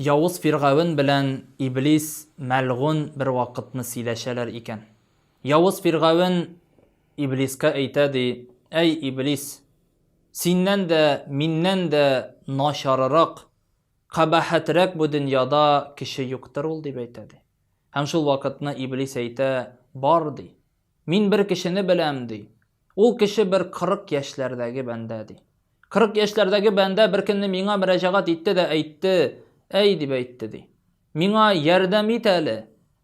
Явыз Фиргавен белән Иблис мәлгунь бервакытны сөйләшәләр икән. Явыз Фиргавен Иблискә әйтә, ди, Әй, Иблис, синнән дә, миннән дә начарырак, кабахәтрәк бу дөньяда кеше юктыр ул, дип әйтә, ди. Һәм шул вакытны Иблис әйтә, Бар, ди, Мин бер кешене беләм, ди. Ул кеше бер 40 яшьләрдәге бәндә, ди. 40 яшьләрдәге бәндә беркөнне миңа мөрәҗәгать итте дә әйтте, әй, дип әйтте, ди. Миңа ярдәм ит әле.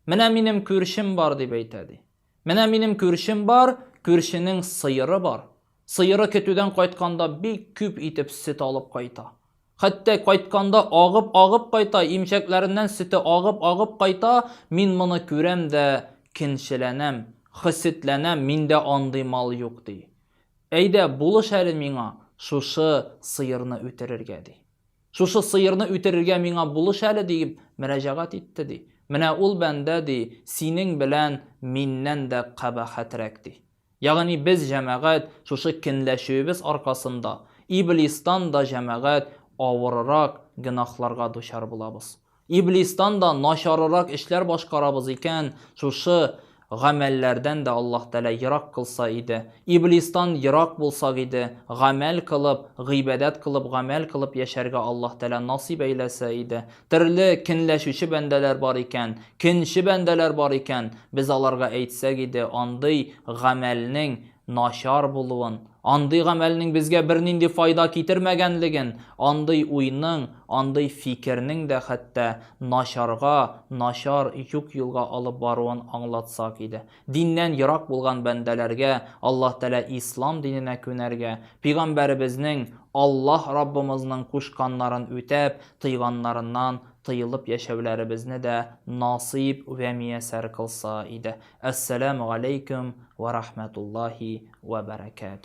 Менә минем күршем бар, дип әйтә, ди. Менә минем күршем бар, күршенең сыеры бар. Сыеры көтүдән кайтканда бик күп итеп сөт алып кайта. Хәтта кайтканда агып-агып кайта, имчәкләреннән сөте агып-агып кайта, мин моны күрәм дә кенчеләнәм, хсетләнәм, миндә андый мал юк, ди. Әйдә, булыш әле миңа шушы сыерны үтерергә, ди. Шушы сыерны үтерергә миңа булыш әле, диеп мөрәҗәгать итте, ди. Менә ул бәндә, ди, синең белән миннән дә кабахәтрәк, ди. Ягъни без, җәмәгать, шушы кенләшүебез аркасында, Иблистан да, җәмәгать, авырырак гөнаһларга дучар булабыз. Иблистан да начарырак эшләр башкарабыз икән, шушы гамәлләрдән дә Аллаһ Тәгалә ерак кылса иде. Иблистан ерак булсак иде, гамәл кылып, гыйбадәт кылып, гамәл кылып яшәргә Аллаһ Тәгалә насыйп әйләсә иде. Төрле кенләшүче бәндәләр бар икән, кенче бәндәләр бар икән, без аларга әйтсәк иде, андый гамәлнең начар булуын, андый гамәлнең безгә бернинди файда китермәгәнлеген, андый уйның, андый фикернең дә хәтта начарга, начар юк-юлга алып баруын аңлатсак иде. Диннән ерак булган бәндәләргә Аллаһ Тәгалә Ислам диненә күнәргә, Пөйгамбәребезнең, Аллаһ Раббымызның кушканнарын үтәп, тыйганнарыннан тыелып яшәүләребезне дә насыйп вә миясәр кылса иде. Әссәләмү галәйкүм вә рахмәтуллаһи вә бәрәкәтүһ.